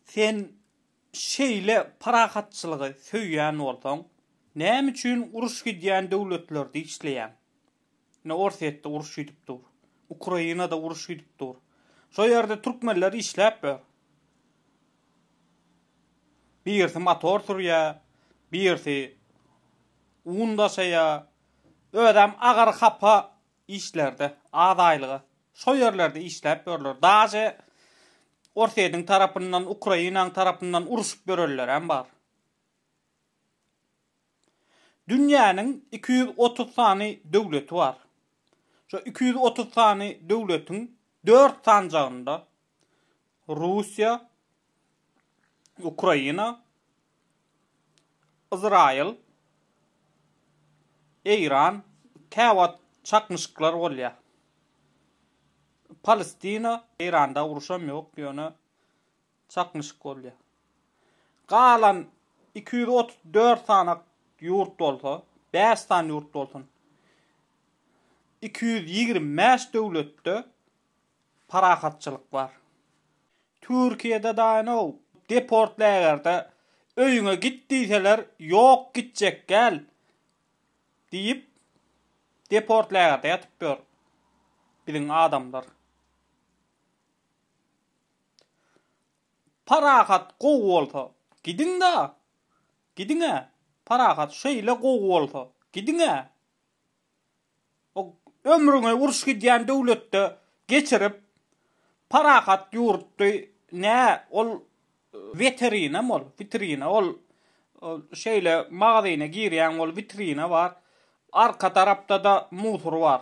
Sen şeýle parahatçylygy söýýän bolsaň, näme üçin uruş gidýän döwletlerde işleýäň? Ine, Orsýetde uruş gidip dur. Ukrainada uruş gidip dur. Şo ýerde türkmenler işläp ýör. Birisi motor sürýär, birisi un daşaýar. Özem agyr hapa işlerde, az aýlyga, şo ýerlerde işläp ýörler. Daže Orsýetiň tarapyndan, Ukrainaň tarapyndan uruşyp ýörenlerem bar. Dünýäniň iki ýüz otuz sany döwleti bar. Şo iki ýüz otuz sany döwletiň dört sanjagynda Russiýa, Ukraina, Yzraýyl, Eýran, käwagt çaknyşyklar bolýar. Palestina, Eýranda uruşam ýok, ýöne çaknyşyk bolýar. Galan 234 sany ýurt bolsa, 5 sany ýurt bolsun. 225 döwletde parahatçylyk bar. Türkiýede daýnow deport lägerde öýüňe git diýseler ýok gitjek däl diýip deport lägerde ýatyp ýör biziň adamlar. Parahat gowy bolsa gidiňda gidiňä parahat şeýle gowy bolsa gidiňä. O ömrüňi uruş gidýän döwletde geçirip, parahat ýurtdy, nä, ol weterinam ol, witrina, ol şeýle magazyna girýäň, ol witrina bar, arka tarapda-da musor bar.